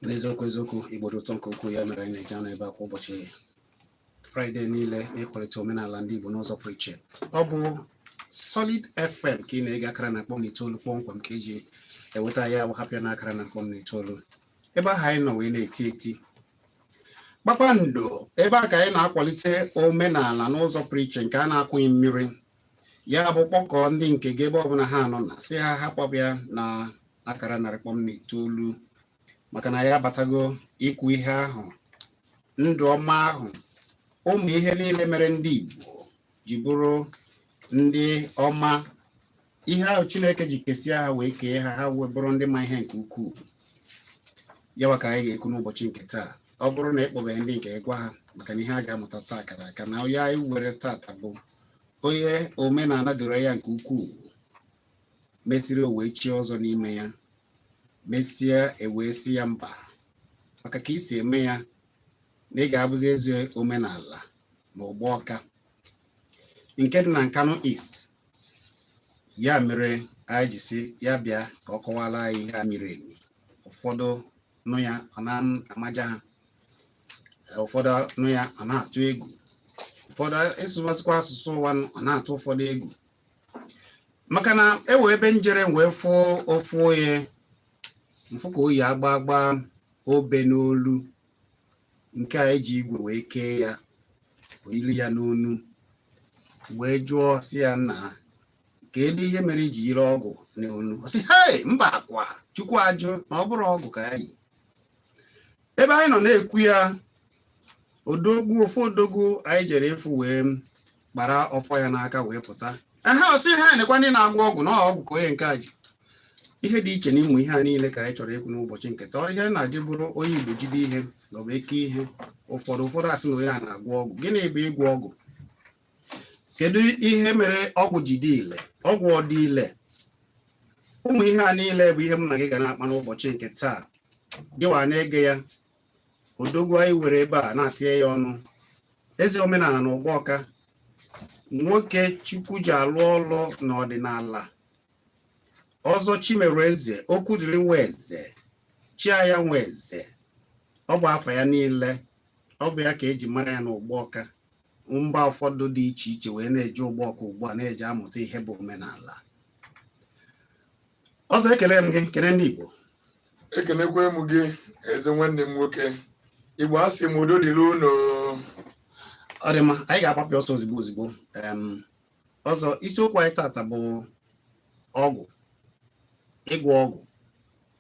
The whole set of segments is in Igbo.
n'eziokwu eziokwu igbo dị ụtọ nke ukwuu ya mere anyị na-eji anọ ebe a kwa ụbọchị fraịde niile n'ịkwalite omenala ndị igbo n'ụzọ pụrụ iche ọ bụ solid fm ka ị na-ege akara narị kpọm na itoolu kpọmkwem ka eji eweta ya wa hapụ ya na akara narị kpọm na itoolu ebe ahụ anyị nọ wee na-eti eti kpakpando ebe a ka anyị na-akwalite omenala n'ụzọ pụrụ iche nke a na-akwụghị mmiri ya bụ kpọkọọ ndị nke gị ebe ọbụla ha nọ na sị ha hapụ ya na akara narị kpọm na itoolu maka na anyị abatago ikwu ihe ahụ ndụ ọma ahụ ụmụ ihe niile mere ndị Igbo ji bụrụ ndị ọma ihe ahụ chineke ji kesịa ha wee kee ha ha wee bụrụ ndị ma ihe nke ukwuu yawa ka anyị ga-ekwu n'ụbọchị nke taa ọ bụrụ na ị kpọbeghị ndị nke ị gwa ha maka na ihe a ga-amụta taa kara aka na onye anyị were tata bụ onye omenala doro ya nke ukwuu mesịrị o wee chie ọzọ n'ime ya mesịa e wee sị ya mba maka ka i si eme ya na ị ga-abụzi eze omenala na Ugbawka nke dị na Nkanu East ya mere anyị ji sị ya bịa ka ọ kọwara anyị ihe a miri emi ụfọdụ nụ ya ọ na-amaja ha ụfọdụ nụ ya ọ na-atụ egwu ụfọdụ ịsụwazikwa asụsụ ụwa ọ na-atụ ụfọdụ egwu maka na e we ebe m jere wee fụọ ofu onye m fụ ka o yi agba agba obe n'olu nke a e ji igwe wee kee ya yiri ya n'onu wee jụọ sị ya nnaa kedu ihe mere i ji yiri ọgwụ n'onu ọ sị hei mba kwa chukwu ajụ na ọ bụrọ ọgwụ ka ya yi ebe anyị nọ na-ekwu ya odogwu ofu odogwu anyị jere ịfụ wee kpara ọfọ ya n'aka wee pụta ehe ọ sị ha nekwa ndị na-agwọ ọgwụ na ọgwụ ka onye nke a ji ihe dị iche n'ụmụ ihe a niile ka anyị chọrọ ikwu n'ụbọchị nke taa ihe na-ajị bụrụ onye Igbo jide ihe na ọ bụ eke ihe ụfọdụ ụfọdụ asị na onye a na-agwọ ọgwụ gịnị bụ ịgwọ ọgwụ kedu ihe mere ọgwụ ji dị ile ọgwụ ọ dị ile ụmụ ihe a niile bụ ihe m na gị ga na-akpa n'ụbọchị nke taa gịwa na-ege ya odogwu anyị were ebe a na-atinye ya ọnụ eze omenala na Ugbawka nwoke chukwu ji alụ ọlụ n'ọdịnala ọzọ Chimereze Okwudịrị Nweze Chiaya Nweze ọ bụ afa ya niile ọ bụ ya ka eji mara ya n'Ugbawka mba ụfọdụ dị iche iche wee na-eji Ugbawka ugbu a na-eji amụta ihe bụ omenala ọzọ ekele m gị kele ndị Igbo ekenekwe m gị ezi nwanne m nwoke igbo a sị m udo dịrị unu ọ dị mma anyị ga-agbapịa ọsọ ozigbo ozigbo ọzọ isiokwu anyị tata bụ ọgwụ ịgwọ ọgwụ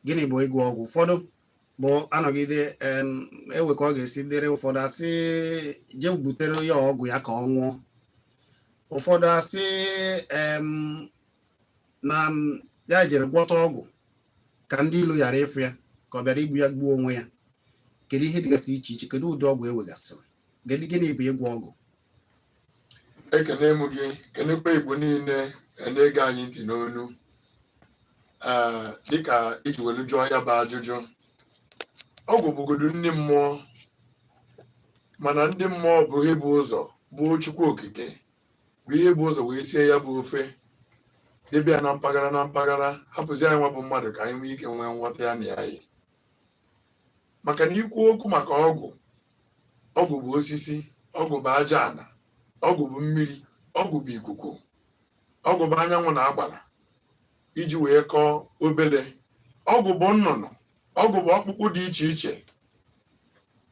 gịnị bụ ịgwọ ọgwụ ụfọdụ bụ a nọgide e nwee ka ọ ga-esi dịrị ụfọdụ a sị jee butere ya ọgwụ ya ka ọ nwụọ ụfọdụ asị na ya jere gwọta ọgwụ ka ndị ilo ghara ịfụ ya ka ọ bịara igbu ya gbuo onwe ya kedu ihe dịgasị iche iche kedu ụdị ọgwụ e nwegasịrị gịnị gịnị bụ ịgwọ ọgwụ ekene m gị kenekwa igbo niile na-ege anyị ntị n'onu ee dịka iji welu jụọ ya bụ ajụjụ ọgwụ bụgodu nni mmụọ mana ndị mmụọ bụ ihe bu ụzọ bụ chukwu okike bụ ihe bu ụzọ wee sie ya bụ ofe debe ya na mpaghara na mpaghara hapụzi anyị nwa bụ mmadụ ka anyị nwee ike nwee nghọta ya na ya yi maka na ikwu okwu maka ọgwụ ọgwụ bụ osisi ọgwụ bụ aja ana ọgwụ bụ mmiri ọgwụ bụ ikuku ọgwụ bụ anyanwụ na agbara iji wee kọọ obele ọgwụ bụ nnụnụ ọgwụ bụ ọkpụkpụ dị iche iche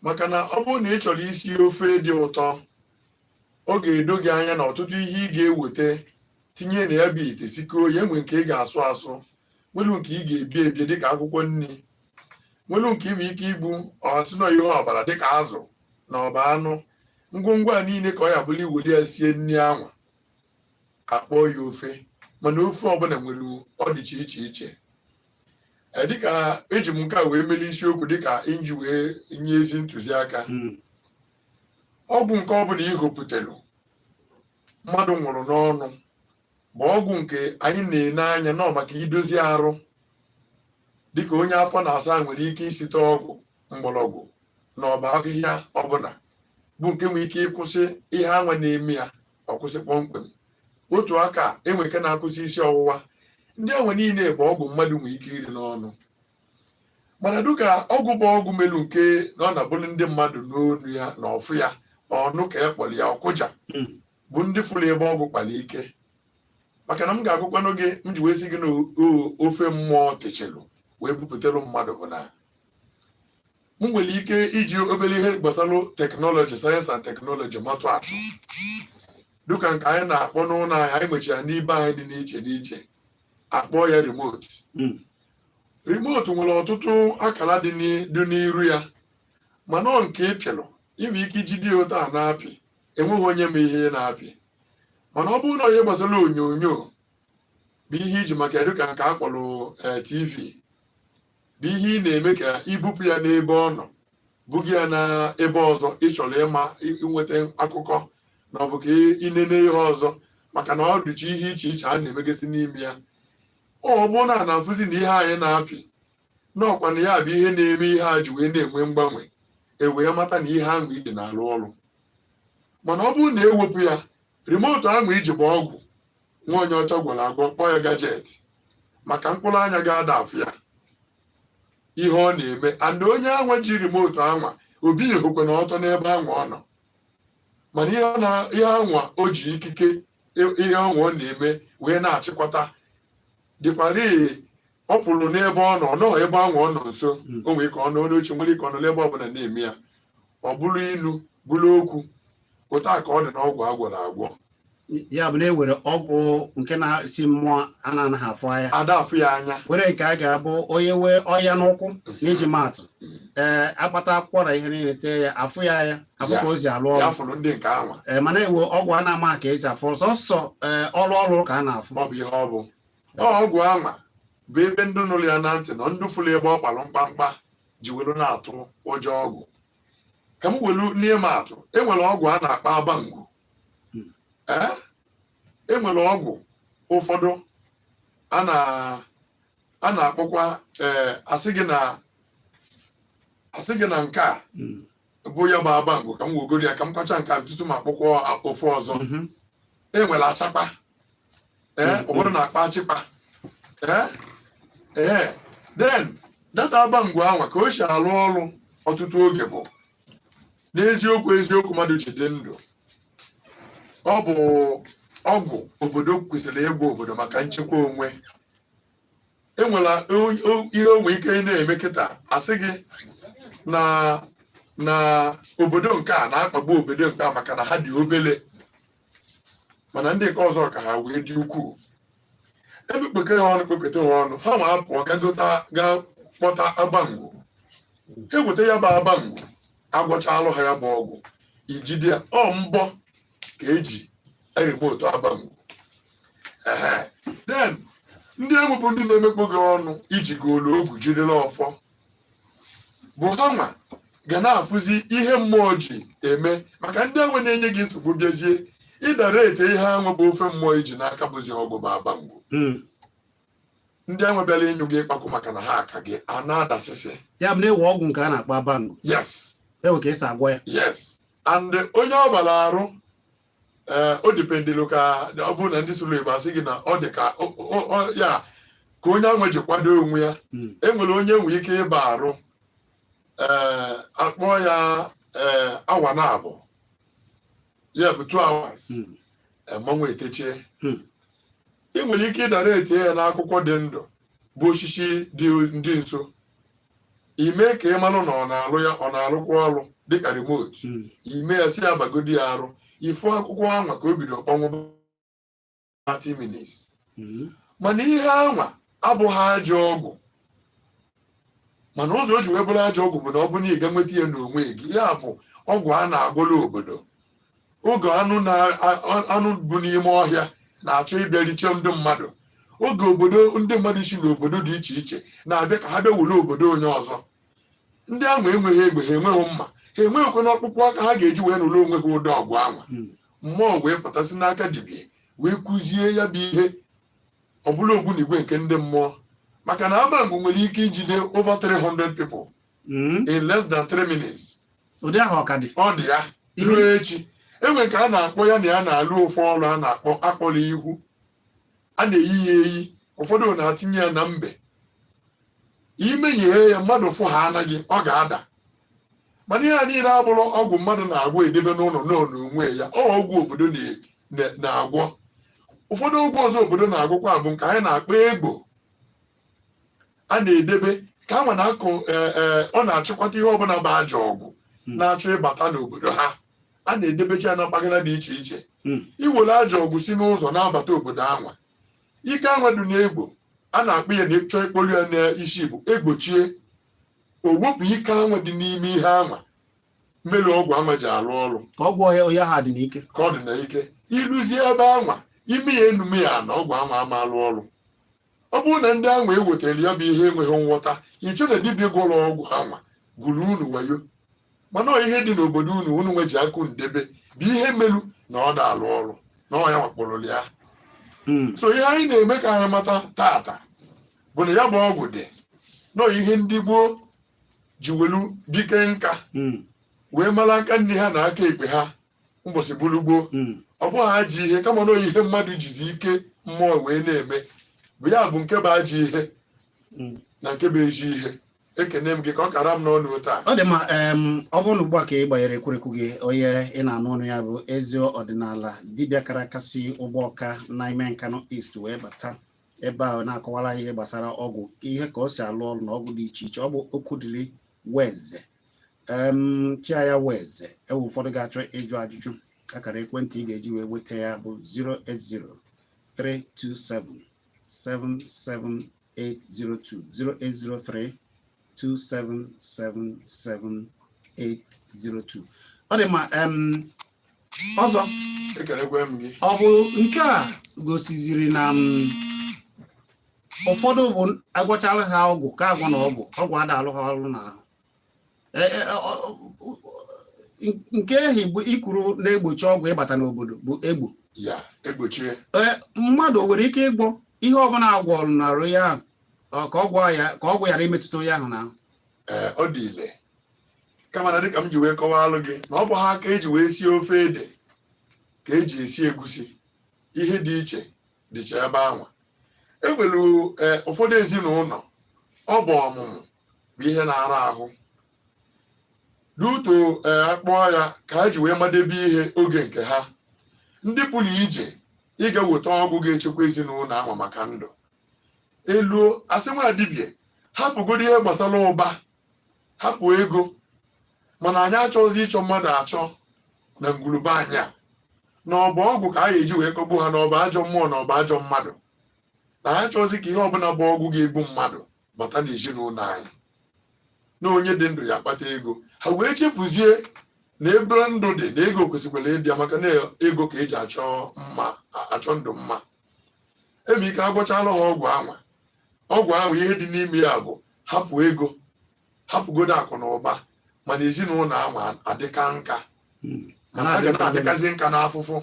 maka na ọ bụrụ na ị chọrọ isi ofe dị ụtọ ọ ga-edo gị anya na ọtụtụ ihe ị ga-eweta tinye na ya bụ ite sikọọ ya e nwee nke ị ga-asụ asụ nwelu nke ị ga-ebi ebi dịka akwụkwọ nri nwelu nke ị nwere ike igbu ọ sị na ihe ọbara dịka azụ na ọ bụ anụ ngwongwo a niile ka ọ ya-abụ na i weli ya sie nri anwa a kpọọ ya ofe mana ofe ọbụla nwere ọdịche iche iche e, dịka eji m nke a wee mele isiokwu dịka iji wee nye ezi ntụziaka hmm. ọgwụ nke ọ bụla i hopụtelu mmadụ nwụrụ n'ọnụ bụ ọgwụ nke anyị na-ene anya na ọ maka idozi arụ dịka onye afọ na-asa nwere ike isite ọgwụ mgbọrọgwụ na ọ bụ ahịhịa ọbụla bụ nke nwere ike ịkwụsị ihe anwa na-eme ya ọ kwụsị kpọmkwem otu aka e nwee nke na-akwụsị isi ọwụwa ndị anwa niile bụ ọgwụ mmadụ nwere ike iri n'ọnụ mana dịka ọgwụ bụ ọgwụ melu nke na ọ na-abụrụ ndị mmadụ n'onu ya na ọ fụ ya ọ nụ ka a kpọrọ ya ọ kụja hmm. bụ ndị fụrụ ebe ọgwụ kpara ike maka na m ga-agwakwanụ gị m ji wee sị gị na ofe mmụọ techelu wee bupụtara mmadụ bụ na m nwere ike iji obere ihe gbasara teknọlọji sayensị na teknọlọji matụ atụ dịka nke anyị na-akpọ n'ụlọ anyị anyị nwechara n'ibe anyị dị n'iche n'iche a kpọọ ya remote hmm. remote nwere ọtụtụ akara dị n'i- dị n'iru ya mana ọ nke ị pịalụ i nwe ike ijide ya otu a na-apị enweghị onye ma ihe ị na-apị mana ọ bụrụ na ọ ihe gbasara onyonyo bụ ihe i ji maka ya dịka nke a kpọrọ eh, tv bụ ihe ị na-eme ka i bupụ ya n'ebe ọ nọ buga ya na ebe ọzọ ị chọrọ ịma ị- ịnweta akụkọ na ọ bụ ka ị- ịnene ihe ọzọ maka na ọ dịcha ihe iche iche a na-emegasị n'ime ya ọ bụrụ na a na-afụzi na ihe anyị na-apị na ọ kwanụ ya bụ ihe na-eme ihe a ji wee na-enwe mgbanwe e wee mata na ihe anwa i ji na-alụ ọrụ mana ọ bụrụ na e wepụ ya remotu anwa i ji bụ ọgwụ nwa onye ọcha gwọrọ agwọ kpọọ ya gajeti maka mkpụrụ anya gị ada afụ ya ihe ọ na-eme and onye anwa ji remotu anwa o bilihọkwanụ ọtọ n'ebe anwa ọ nọ mana ihe anwa o ji ikike ihe anwa ọ na-eme wee na-achịkọta dịkwara ọ pụrụ n'ebe ọ nọ nọ ebe anwa ọ nọ nso hmm. o nwere ike ọ nọ n'oche nwere ike ọ nọ n'ebe ọbụla na-eme ya ọ bụrụ inu bụrụ okwu otu a ka ọ dị n'ọgwụ a gwọrọ agwọ ya bụ na e nwere ọgwụ nke na-esi mmụọ a na-anaghị afụ anya ada afụ ya anya nwere nke a ga-abụ onye nwee ọnya n'ụkwụ n'iji maatụ ee a kpata akwụkwọ na ihe niile tee ya afụ ya anya afụ ka o si alụ ya ọrụ fụrụ ndị nke anwa ee mana e nwe ọgwụ a na-ama ka e si afụ sọsọ ee ọrụ ọrụ ka a na-afụ ọ bụ ihe ọ bụ Ọ ọgwụ anwa bụ ebe ndị nụrụ ya na ntị na ndị fụrụ ebe ọ kpalụ mkpamkpa ji were na-atụ ụjọ ọgwụ ka m welu n'ịma atụ e nwere ọgwụ a na-akpọ abangwu e nwere ọgwụ ụfọdụ a na-akpọkwa e, asị gị na asị gị na nke a hmm. bụ ya bụ abangwu ka m wegoro ya ka m kọwacha nke a tutu m akpọkwa ofu ọzọ mhm. e nwere achakpa ee ụfọdụ na-akpọ achịkpa ee ee then that abangwu anwa ka o si arụ ọrụ ọtụtụ oge bụ n'eziokwu eziokwu mmadụ ji dị ndụ ọ bụ ọgwụ obodo kwesịrị ịgwọ obodo maka nchekwa onwe e nwere o- o- ihe o nwe ike ịna-eme kịta asị gị na na obodo nke a na-akpagbu obodo nke a maka na ha dị obele mana ndị nke ọzọ ka ha wee dị ukwuu e mekpọka ha ọnụ kpọkata ha ọnụ ha nwa apụọ gagota ga kpọta abangwu ha eweta ya bụ abangwu a gwọchalụ ha ya bụ ọgwụ i jide ya ọ mbọ ka e ji eremotu abangwu ehe then ndị egwu bụ ndị na-emekpọ gị ọnụ i ji golu ogu jidere ọfọ bụ ha nwa ga na-afụzi ihe mmụọ ji eme maka ndị anwa na-enye gị nsogbu bịazie ịdara ete ihe anwa bụ ofe mmụọ iji n'aka bụzi ọgwụ bụ abangwu hmm. ndị anwa bịara ịnyụ gị ịkpakwụ maka na ha aka gị a na-adasịsị ya bụ na enwe ọgwụ nke a na-akpọ abangwu yes enwe ka esi agwọ ya yes and onye ọ bara arụ ee o dipendịlụ ka ọ bụrụ na ndị sụrụ igbo asị gị na ọ dị ka o- o- o- ya ka onye anwa ji kwado onwe ya Mm. enwere onye nwere ike ịba arụ ee akpọ ya ee awa na abụọ ya bụ two hours Mm. mmanwụ etechie Hmm. ị nwere ike ịdara ete ya n'akwụkwọ dị ndụ bụ osisi dị ndị nso ime ka ị marụ na ọ na-alụ ya ọ na-alụkwa ọrụ dịka remote hmm. ime ya sị ya bagodi ya arụ ịfụ akwụkwọ anwa ka o bido kpọnwụ 30 minutes hmm. mana ihe anwa abụghị ajọ ọgwụ mana ụzọ o ji wee bụrụ ajọ ọgwụ bụ na ọ bụ na ị ga nweta ya n'onwe gị ya bụ ọgwụ a na-agwọla obodo oge anụ na anụ bu n'ime ọhịa na-achọ ịbịa riche ndị mmadụ oge obodo ndị mmadụ si n'obodo dị iche iche na-abịa ka ha bịa were obodo onye ọzọ ndị ahụ enweghị egbe ha enweghị mma ha enweghịkwanụ ọkpụkpụ aka ha ga-eji wee nụrụ onwe ha ụdị ọgwụ anwa Hmm. mmụọ wee pụtasị n'aka dibịa wee kuzie ya bụ ihe ọbụla ogbunigwe nke ndị mmụọ maka na abangwu nwere ike ijide over 300 people Mm. in less than three minutes ụdị ahụ ọ ka dị ọ dị ya Ihe- ruo echi enwere nke a na-akpọ ya na ya na-alụ ofu ọrụ a na-akpọ akpọrọ ihu a na-eyi ya eyi ụfọdụ na-atinye ya na mbe imeghee ya mmadụ fụ ha anaghị ọ ga-ada mana ihe a niile abụrọ ọgwụ mmadụ na-agwọ edebe n'ụlọ nọ n'onwe ya ọ ọgwụ obodo na- na- na-agwọ ụfọdụ ọgwụ ọzọ obodo na-agwọkwa bụ nke anyị na-akpọ egbo a na-edebe ka a ma na akụ eh, eh, ọ na-achịkwata ihe ọbụla bụ ajọ ọgwụ Mm. na-achọ ịbata n'obodo ha a na-edebecha ya na mpaghara dị iche iche Mm. iwere ajọ ọgwụ si n'ụzọ na-abata obodo anwa ike anwa dị n'egbo a na-akpọ ya na ịchọ ịkpọrọ ya n'isi bụ egbochie o wepụ ike anwa dị n'ime ihe anwa melu ọgwụ anwa ji alụ ọrụ ka ọgwụ ọhịa ọhịa ha dị n'ike ka ọ dị na ike iluzie ebe anwa ime ya enu mee ya ana ọgwụ anwa ama alụ ọrụ ọ bụrụ na ndị anwa ewetara ya bụ ihe enweghị nghọta iche na dibịa gwọrọ ọgwụ anwa gwuru unu wayo mana ihe dị n'obodo unu unu nwa ji aka unu debe bụ ihe melu na ọ da alụ ọrụ na ọ ya wakporo ya hmm. so ihe anyị na-eme ka anyị mata taata bụ na ya bụ ọgwụ dị nọ ihe ndị gboo ji welu bie kaa nka hmm. wee mara aka nni ha na aka ekpe ha ụbọchị bụrụ gboo mm. ọ bụghị ajọ ihe kama na ihe mmadụ jizi ike mmụọ wee na-eme bụ ya bụ nke bụ ajọ ihe mm. na nke bụ ezi ihe ekene m gị ka ọ kara m n'ọnụ taa ọ dị mma ọ bụrụ na ugbu a ka ị gbanyere ekwurekwu gị onye ị na-anụ ọnụ ya bụ ezi ọdịnala dibịa kara aka si ugbawka n'ime nkanu east wee bata ebe ahụ na-akọwara ihe gbasara ọgwụ ihe ka o si alụ ọrụ na ọgwụ dị iche iche ọ bụ okwudili nweze em chia ya nweze e nwee ụfọdụ ga-achọ ịjụ ajụjụ akara ekwentị ị ga-eji wee nweta ya bụ 08032777802 08032777802 ọ dị ma em ọzọ ekelekwe m gị ọ bụ nke a gosiziri na m ụfọdụ bụ agwọchara ha ọgwụ ka agwọ na ọgwụ ọgwụ ada alụ ha ọrụ n'ahụ e, e, nke ahụ i kwuru na-egbochi ọgwụ ịbata n'obodo bụ egbo ya egbochie mmadụ nwere ike ịgwọ ihe ọbụla agwọrụ n'arụ ya ka ọgwụ ghara imetụta onye ahụ n'ahụ ọ dị ile kama na dịka m ji wee kọwaalụ gị na ọ bụha ka eji wee sie ofe ede ka eji esi egusi ihe dị iche dịcha ebe anwa e nwere e, ụfọdụ ezinụlọ ọ bụ ọmụmụ bụ ihe na-ara ahụ duto e, akpọọ ya ka ha ji wee madebe ihe oge nke ha ndị pụrụ ije ịga weta ọgwụ ga-echekwa ezinụlọ anwa maka ndụ e luo a sị nwa dibịa hapụgodo ihe gbasara ụba hapụ ego mana anyị achọghịzi ịchọ mmadụ achọ na ngwuru be anyị a na ọ bụ ọgwụ ka a ga-eji wee kọgbu ha na ọ bụ ajọ mmụọ na ọ bụ ajọ mmadụ na anyị achọghịzi ka ihe ọbụla bụ ọgwụ ga-egbu mmadụ bata n'ezinụlọ anyị na onye dị ndụ ya akpata ego ha wee chefuzie na ebe ndụ dị na ego kwesịkwara ịdị ya maka na ego ka eji achọ ndụ mma enwe ike agwọchala ha ọgwụ anwa ọgwụ anwa ihe dị n'ime ya bụ hapụ ego hapụgodo akụ na ụba mana ezinụlọ anwa adịka nka hmm. mana a ga na-adịkazi nka n'afụfụ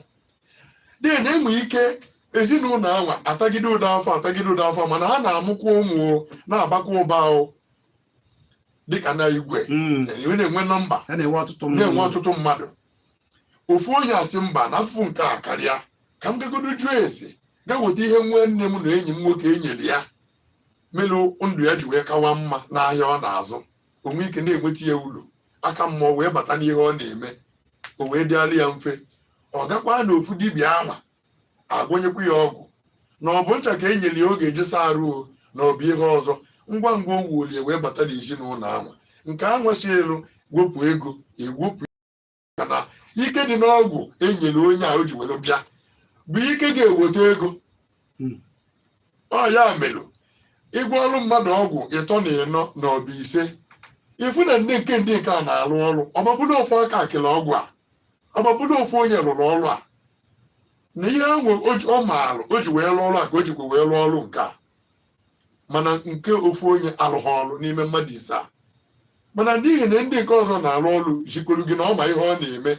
dị na enwe ike ezinụlọ anwa atagide ụdọ afọ atagide ụdọ afọ mana ha na-amụkwa ụmụ na-abakwa ụba ahụ dịka na igwe hmm. na-enwe nọmba na-enwe ọtụtụ mmadụ ofu onye asị mba na afụfụ nke a karịa ka m gagodo jụọ ese ga weta ihe nwanne m na enyi m nwoke enyere ya melụ ndụ ya ji wee kawa mma n'ahịa ọ na-azụ o nwe ike na-enweta ya ulu aka mmụọ wee bata n'ihe ọ na-eme o wee dịala ya mfe ọ gakwa na ofu dibịa anwa agwọnyekwa ya ọgwụ na ọ bụ ncha ka e nyere ya ọ ga-eji saa arụ o na ọ bụ ihe ọzọ ngwa ngwa o wuolie wee bata n'ezinụlọ anwa nke anwa si elu wepụ ego ewepụ maka na ike dị n'ọgwụ enyere onye a o ji were bịa bụ ike ga-eweta ego Hmm. ọ ya mere ịgwọọrụ mmadụ ọgwụ ịtọ na ịnọ na ọ bụ ise ịfụ na ndị nke ndị nke a na-arụ ọrụ ọ ma-abụ na ofu aka kele ọgwụ a ọ ma-abụ na ofu onye rụrụ ọrụ a na ihe ahụ o ji- ọ maara o ji wee rụọ ọrụ a ka o jikwa wee rụọ ọrụ nke a mana nke ofu onye alụghị ọrụ n'ime mmadụ ise a mana n'ihi na ndị nke ọzọ na-arụ ọrụ zikwuru gị na ọ ma ihe ọ na-eme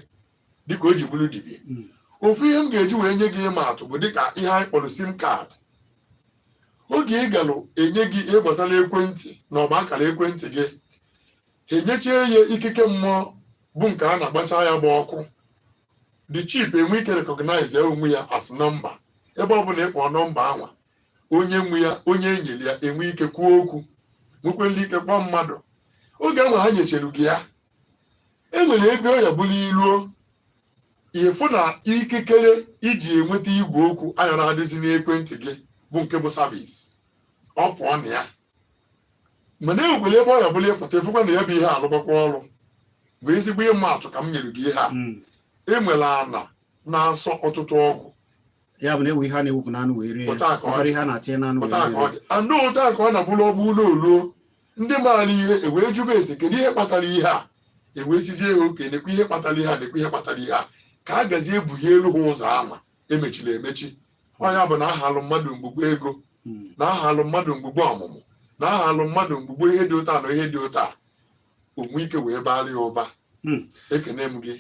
dịka o ji bụrụ dibia Mm. ofu ihe m ga-eji wee nye gị ịma atụ bụ dịka ihe anyị kpọrọ SIM card oge ị galụ enye gị ihe gbasara ekwentị na ọ bụ akara ekwentị gị ha enyechie ya ikike mmụọ bụ nke a na-agbacha ya bụ ọkụ the chip enwe ike recognize ya onwe ya as nọmba ebe ọ bụla ịkpọ nọmba anwa onye nwe ya onye enyere ya enwe ike kwuo okwu nwekwenu ike kpọọ mmadụ oge ahụ ha nyechere gị ya e nwere ebe ọ ya-abụrụ i ruo ịfụ na ikikere iji enweta igwe okwu ayarọ adịzi n'ekwentị gị bụ nke bụ service ọ pụọ na ya mana enwekwara ebe ọ ya-abụlụ ịpụta ịfụkwa na ya bụ ihe alụbakwa ọrụ bụ ezigbo ịma atụ ka m nyere gị ihe a enwere ana na-asọ ọtụtụ ọgwụ ya bụ na enwe ihe a na-ewepụ n'anụ wee rie Otu a ka ọ dị. ihe a na-atinye n'anụ wee Otu a ka ọ rie dị. Anụ otu a ka ọ na-abụrụ ọgbụ ụlọ oluo ndị maara ihe ewee jụba ese kedu ihe kpatara ihe a ewee sịzie ha okay nekwa ihe kpatara ihe a nekwa ihe kpatara ihe a ka a gazie ebughielu ha ụzọ ama emechiri emechi ọ ya bụ na ahalụ mmadụ mgbugbo ego Mm. na ahalụ mmadụ mgbugbo ọmụmụ na ahalụ mmadụ mgbugbo ihe dị otu a na ihe dị otu a o nwee ike wee baara ya ụba hmm. ekene m gị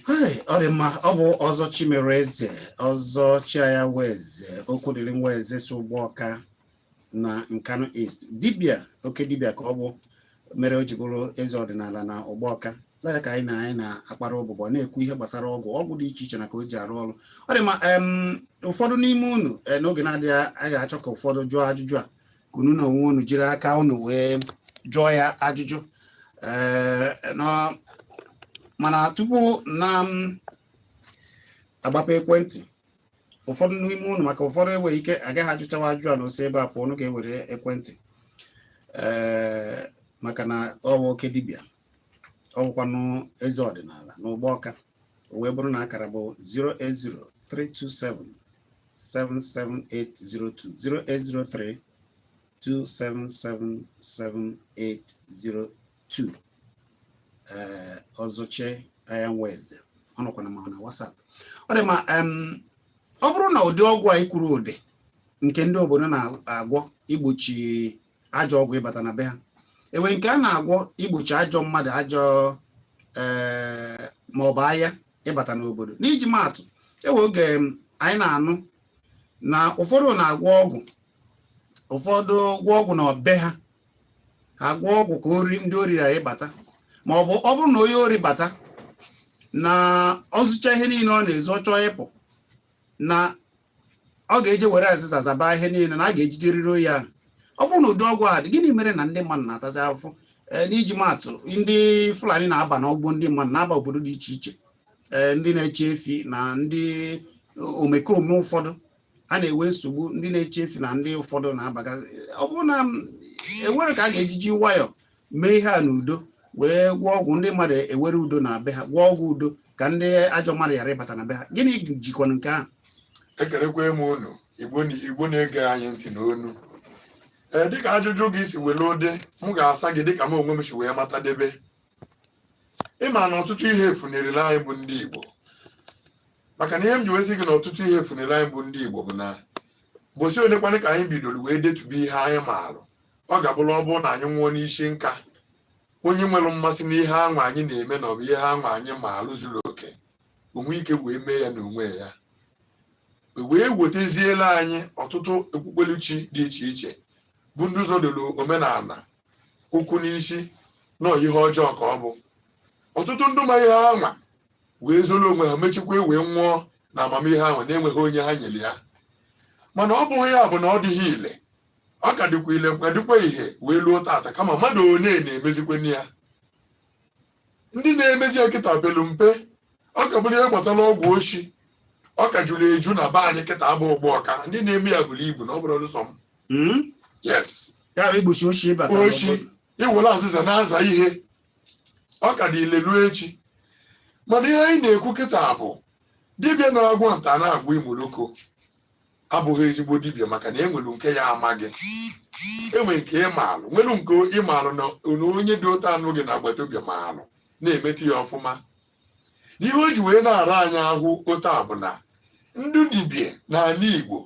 ọ dị mma ọ bụ Ọzọ Chimereze Ọzọ Chianya Nweze Okwudịrị Nweze si Ugbawka na Nkanu East dibia oke dibia ka ọ bụ mere o ji bụrụ eze ọdịnala na Ugbawka ya ka anyị na ya na-akpara ụbụbọ na-ekwu ihe gbasara ọgwụ ọgwụ dị iche iche na ka o ji arụ ọrụ ọ dị mma ụfọdụ n'ime unu eh, n'oge na-adịghị anya ga-achọ ka ụfọdụ jụọ ajụjụ a ka unu na onwe unu jiri aka unu wee jụọ ya ajụjụ ee nọ mana tupu na m agbape ekwentị ụfọdụ n'ime unu maka ụfọdụ enweghị ike agaghị ajụchawa ajụjụ a na o si ebe a pụọ unu ga-ewere ekwentị ee maka na ọ bụ oke dibịa ọwụkwanụ eze ọdịnala n'Ugbawka o wee bụrụ na akara bụ 08032777802 08032777802 ee Ọzọ Chianya Nweze ọ nọkwa na ma na WhatsApp ọ dị mma em, ọ bụrụ na ụdị ọgwụ a ikwuru ụdị nke ndị obodo na-agwọ igbochi ajọ ọgwụ ịbata na be ha enwe nke a na-agwọ igbochi ajọ mmadụ ajọ ee eh, maọbụ aha ịbata n'obodo n'iji maatụ enwe oge anyị na-anụ na ụfọdụ na-agwọ ọgwụ ụfọdụ gwọ ọgwụ na be ha ha gwọ ọgwụ ka ori ndị ori ghara ịbata ma ọ bụ ọ bụrụ na onye ori bata na o zucha ihe niile ọ na-ezu ọ chọọ ịpụ na ọ ga-eje were azịza zaba ihe niile na a ga-ejiderịrị onye ahụ ọ bụrụ na ụdị ọgwụ a dị gịnị mere na ndị mmadụ na-atazi afụfụ e, n'iji maatụ ndị Fulani na-aba n'ọgbọ ndị mmadụ na-aba obodo dị iche iche e, ndị na-eche efi na ndị omekome ụfọdụ a na-enwe nsogbu ndị na-eche efi na ndị ụfọdụ na-abaga ọ bụrụ na enwere ka a ga-ejiji nwayọọ mee ihe a n'udo wee gwọọ ọgwụ ndị mmadụ ewere udo na be ha gwọọ ọgwụ udo ka ndị ajọ mmadụ ghara ịbata na be ha gịnị jikwana nke ahụ ekelekwa m unu igbo na- igbo na-ege anyị ntị n'ụnọ ee dịka ajụjụ gị si were dị m ga-asa gị dịka m onwe m si wee matadebe ị ma na ọtụtụ ihe efunarịla anyị bụ ndị igbo maka na ihe m ji wee sị gị na ọtụtụ ihe efunarịla anyị bụ ndị igbo bụ na ụbọsị one kwanụ ka anyị bidoro wee detube ihe anyị maalụ ọ ga-abụrụ ọ bụrụ na anyị nwụọ n'isi nka onye nwere mmasị n'ihe anwa anyị na-eme na ọ bụ ihe anwa anyị maalụ zuru oke o nwe ike wee mee ya n'onwe ya e wee weteziela anyị ọtụtụ okpukperechi dị iche iche bụ ndị zọdoro omenala ụkwụ n'isi na ihe ọjọọ ka ọ bụ ọtụtụ ndị ma ihe anwa wee zoro onwe ha mechikwa e wee nwụọ na amamihe ahụ na-enweghị onye ha nyere ya mana ọ bụghị ya bụ na ọ dịghị ile ọ ka dịkwa ile ọ ka dịkwa ile wee luo tata kama mmadụ one na-emezikwanụ ya ndị na-emezi ya kịta belu mpe ọ ka bụrụ ihe gbasara ọgwụ oshi ọ ka jụrụ eju na be anyị kịta bụ Ugbawka ndị na-eme ya buru ibu na ọ bụrụ ọlụsọ m Hmm? yes ya bụ igbochi oshi ịbata oshi n'obodo. iwere azịza na-aza ihe ọ ka dị ile luo echi mana ihe anyị na-ekwu kịta bụ dibịa na-agwọ nta na-agwọ imoloko abụghị ezigbo dibịa maka na enwere nke ya amaghị enwe nke ị maalụ nwere nke ị maalụ na onye dị otu a nọ gị n'agbata obi maalụ na-emeta ya ọfụma n'ihe o ji wee na-ara anyị ahụ otu a bụ na ndị dibịa n'ala Igbo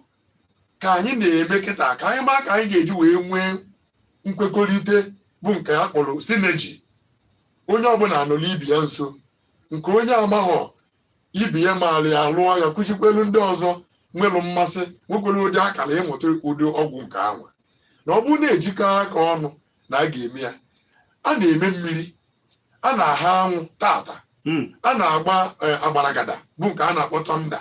ka anyị na-eme kịta ka anyị maa ka anyị ga-eji wee nwee nkwekọrịta bụ nke a kpọrọ sineji onye ọbụla anọlụ ibe ya nso nke onye amaghọ ibi ya maara ya lụọ ya kụzikwelu ndị ọzọ nwere mmasị nwekwara ụdị akara ịmụta ụdị ọgwụ nke ahụ na ọ bụrụ na e jikọọ aka ọnụ na a ga-eme ya a na-eme mmiri a na-aha anwụ taata hmm. a na-agba eh, agbaragada bụ nke a na-akpọ tọnda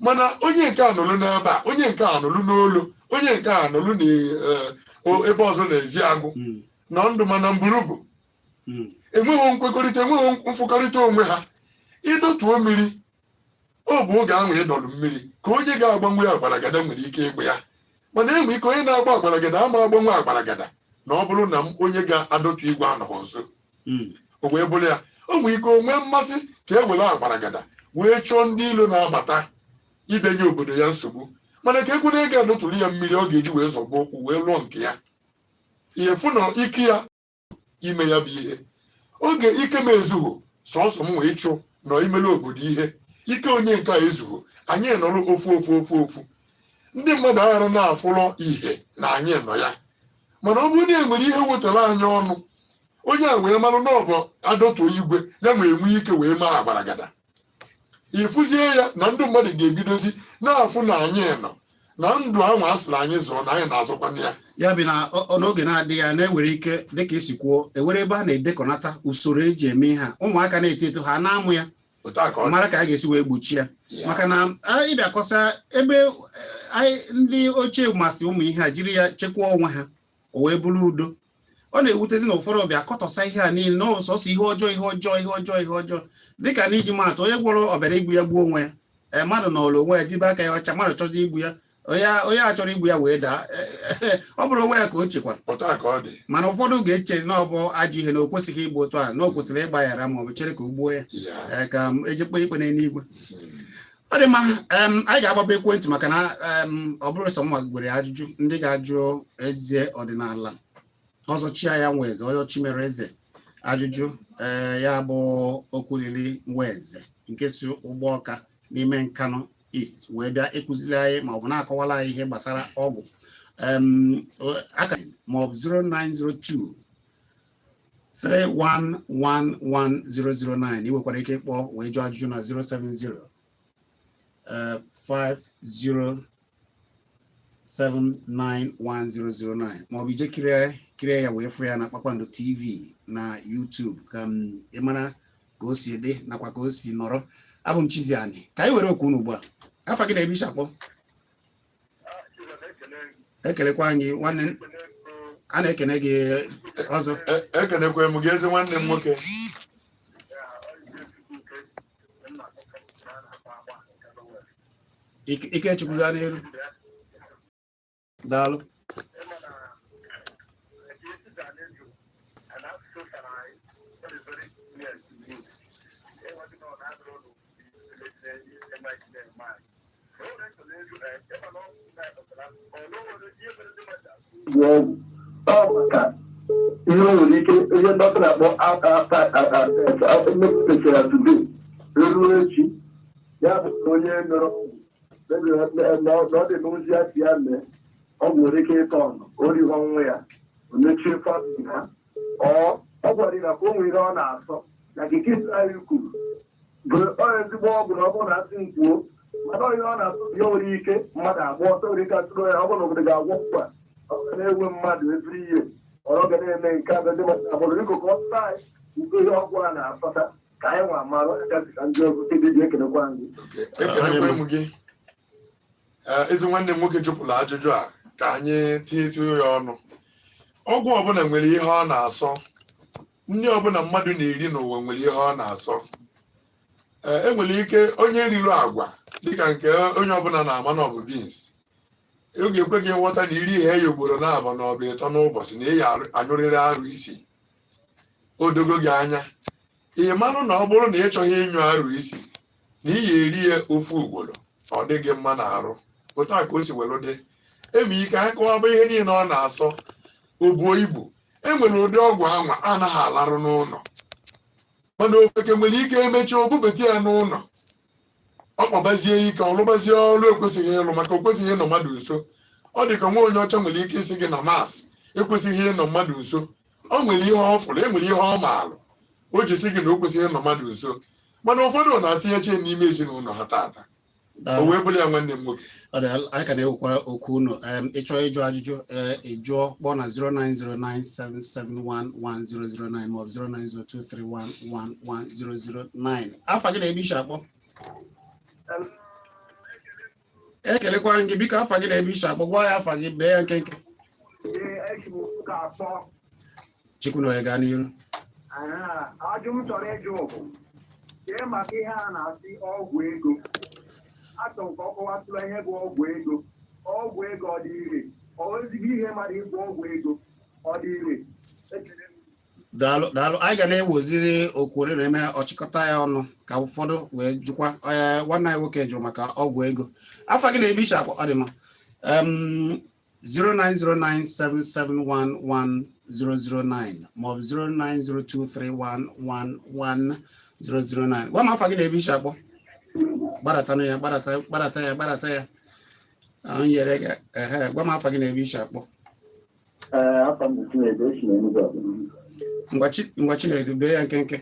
mana onye nke a nọlụ n'ebe a onye nke a nọlụ n'Olo onye nke a nọlụ n'ebe eh, ọzọ n'Ezeagụ hmm. n'Oduma na Mburubu hmm. enweghị nkwekọrịta enweghị mfụkọrịta onwe ha ị dọtuo mmiri ọ bụ oge ahụ ị dọrọ mmiri ka onye ga-agbanwu agbaragada nwere ike ịgba ya mana e nwee ike onye na-agba agbaragada ama agbanwu agbaragada na ọ bụrụ na onye ga-adọtu igwe anọghị nso hmm. o wee bụrụ ya o nwee ike o nwee mmasị ka e were agbaragada wee chụọ ndị ilo na-abata ibunye obodo ya nsogbu mana ka ekwu na ị ga-adọtụrụ ya mmiri ọ ga-eji wee zọgbu ụkwụ wee lụọ nke ya ị fụ na ike ya ime ya bụ ihe oge ike m ezughị sọsọ m wee chụ nọ imere obodo ihe ike onye nke a ezughị anyị nọrọ ofu ofu ofu ofu ndị mmadụ aghara na-afụrọ ihe na anyị nọ ya mana ọ bụrụ na e nwere ihe wetara anyị ọnụ onye a wee marụ na ọ bụ adọtuo igwe ya ma enwe ike wee mee agbaragada ị fụzie ya na ndị mmadụ ga-ebidozi na-afụ na anyị nọ na ndụ ahụ a sịrị anyị zọọ na anyị na-azọkwanụ ya ya bụ na ọ- ọ- n'oge na-adịghị anya na e nwere ike dịka i si kwuo e nwere ebe a na-edekọnata usoro e ji eme ihe a ụmụaka na-eto eto ha na-amụ ya otu a ka ọ dị. mara ka a ga-esi wee gbochie ya Ya. maka na ị bịa kọsa ebe eh, anyị ndị ochie masị ụmụ ihe a jiri ya chekwaa onwe ha o wee bụrụ udo ọ na-ewutezi na ụfọdụ bịa kọtọsa ihe a niile na ọ sọsọ ihe ọjọọ ihe ọjọọ ihe ọjọọ ihe ọjọọ dịka n'iji maa atụ onye gwọrọ ọbịara igbu ya gbuo onwe ya ee mmadụ nọrọ onwe ya debe aka ya ọcha mmadụ chọzi igbu ya onye a- onye a chọrọ igbu ya wee daa ọ bụrụ onwe ya ka o chekwara otu a ka ọ dị mana ụfọdụ ga-eche na ọ bụ ajọ ihe na o kwesịghị igbu otu a na o kwesịrị ịgbaghara ma ọ bụ chere ka o gbuo ya ya ee, ka e jee kpee ikpe n'eluigwe ọ dị mma anyị ga-agbaba ekwentị maka na ọ bụrọ sọ mụwa nwere ajụjụ ndị ga-ajụ eze ọdịnala ọzọ chia ya Nweze Ọzọ Chimereze ajụjụ eh, ya bụ Okwudili Nweze nke si Ugbọka n'ime Nkanụ East wee bịa ịkụziri anyị ma ọ bụ na-akọwala anyị ihe gbasara ọgwụ akara m bụ 0902 3111009 ị nwekwara ike ịkpọ wee jụọ ajụjụ na 070 50 791009 maọbụ i jee kirie ya wee fụ ya na Kpakpando TV na YouTube ka ị mara ka o si dị nakwa ka o si nọrọ abụ m Chizzy Ani ka anyị were okwu unu ugbu a afa gị na ebe i si akpọ ekelekwa gị nwanne a na-ekene gị ọzọ e, ekenekwa m gị ezi nwanne m nwoke Ikechukwu gaa n'iru daalụ ihe nwere ike ihe dọkịta na-akpọ mepụtachara today ruo echi ya bụ onye nọrọ na ọ dị n'ozi ya si ya mee ọ nwere ike ịtọ ọnụ o rie onwe ya o mechie family ha ọ ọ gwara gị na ka o nwere ihe ọ na-asọ na nke kesi anyị kwuru bụ ọ ezigbo ọgwụ na ọ bụrụ na a sị m kwuo mana ihe ọ na-asọ ya nwere ike mmadụ agba ọsọ nwere ike atụrụ ya ọ bụrụ na obodo ga-agwọ mkpa ọ ga na-enwe mmadụ ebiri ihe ọrụ ga na-eme nke a ndị mmadụ abụrụ iko ka ọ sụta anyị nke ihe ọgwụ a na-asọta ka anyị nwa mara ya gwazikwa ndị ọzọ ndị ji ekelekwa anyị ekelekwa m gị Eh, ezi nwanne m nwoke jụpụrụ ajụjụ a ka anyị tinyetuo ya ọnụ ọgwụ ọbụla nwere ihe ọ na-asọ nri ọbụla mmadụ na-eri n'ụwa nwere ihe ọ na-asọ Eh, e nwere ike onye riri agwa dịka nke onye ọbụla na-ama na ọ bụ beans ọ ga-ekwe gị nghọta na i rie ya ugboro naabọ maọbụ ịtọ n'ụbọchị na ị ya-anyụrịrị arụ isi o dogo gị anya ị marụ na ọ bụrụ na ị chọghị ịnyụ arụ isi na ị ya eri ya ofu ugboro ọ dịghị mma n'arụ otu a ka o si were dị eme ike anyị kọwaba ihe niile ọ na-asọ o buo ibu enwere ụdị ọgwụ anwa anaghị alarụ n'ụlọ mana ofeke nwere ike emecha o bubete ya n'ụlọ ọ kpabazie ike ọ lụbazie ọrụ ekwesịghị ịlụ maka o kwesịghị ịnọ mmadụ nso ọ dị ka nwa onye ọcha nwere ike ịsị gị na mast ekwesịghị ịnọ mmadụ nso o nwere ihe ọ fụrụ e nwere ihe ọ maalụ o ji si gị na o kwesịghị ịnọ mmadụ nso mana ụfọdụ na-etinyecha ya n'ime ezinụlọ ha tata o wee bụrụ ya nwanne m nwoke anyị ka na-ewekwara oku unu ị chọọ ịjụ ajụjụ ee ị jụọ kpọọ na 09097711009 maọbụ 09023111009 afa gị na ebe i si akpọ ekelekwa gị biko afa gị na ebe i si akpọ gwa ya afa gị bee ya nkenke Chukwunonye gaa n'iru ajụ m chọrọ ịjụ bụ ihe maka ihe a na-asị ọgwụ ego achọ m ka ọ kọwatụla ihe bụ ọgwụ ego ọgwụ ego ọ dị ire ọ ezigbo ihe mmadụ ịgwọ ọgwụ ego ọ dị ire daalụ daalụ anyị ga na-eweziri oku were na-eme ọchịkọta ya ọnụ ka ụfọdụ wee jụkwa ee nwanne anyị nwoke jụrụ maka ọgwụ ego afa gị na ebe i shi akpọ ọ dị mma Em, 09097711009 maọbụ 09023111009 gwa m afa gị na ebe i shi akpọ gbadatanụ ya gbadata gbadata ya gbadata ya ahụ nyere gị ehe gwa m afa gị na ebe i shi akpọ ngwa Chinedu bee ya nkenke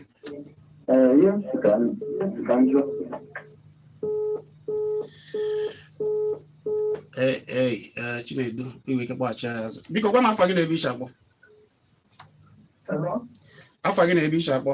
ee ee Chinedu i nwe ike kpọghachi ya azụ biko gwa m afa gị na ebe i shi akpọ afa gị na ebe i shi akpọ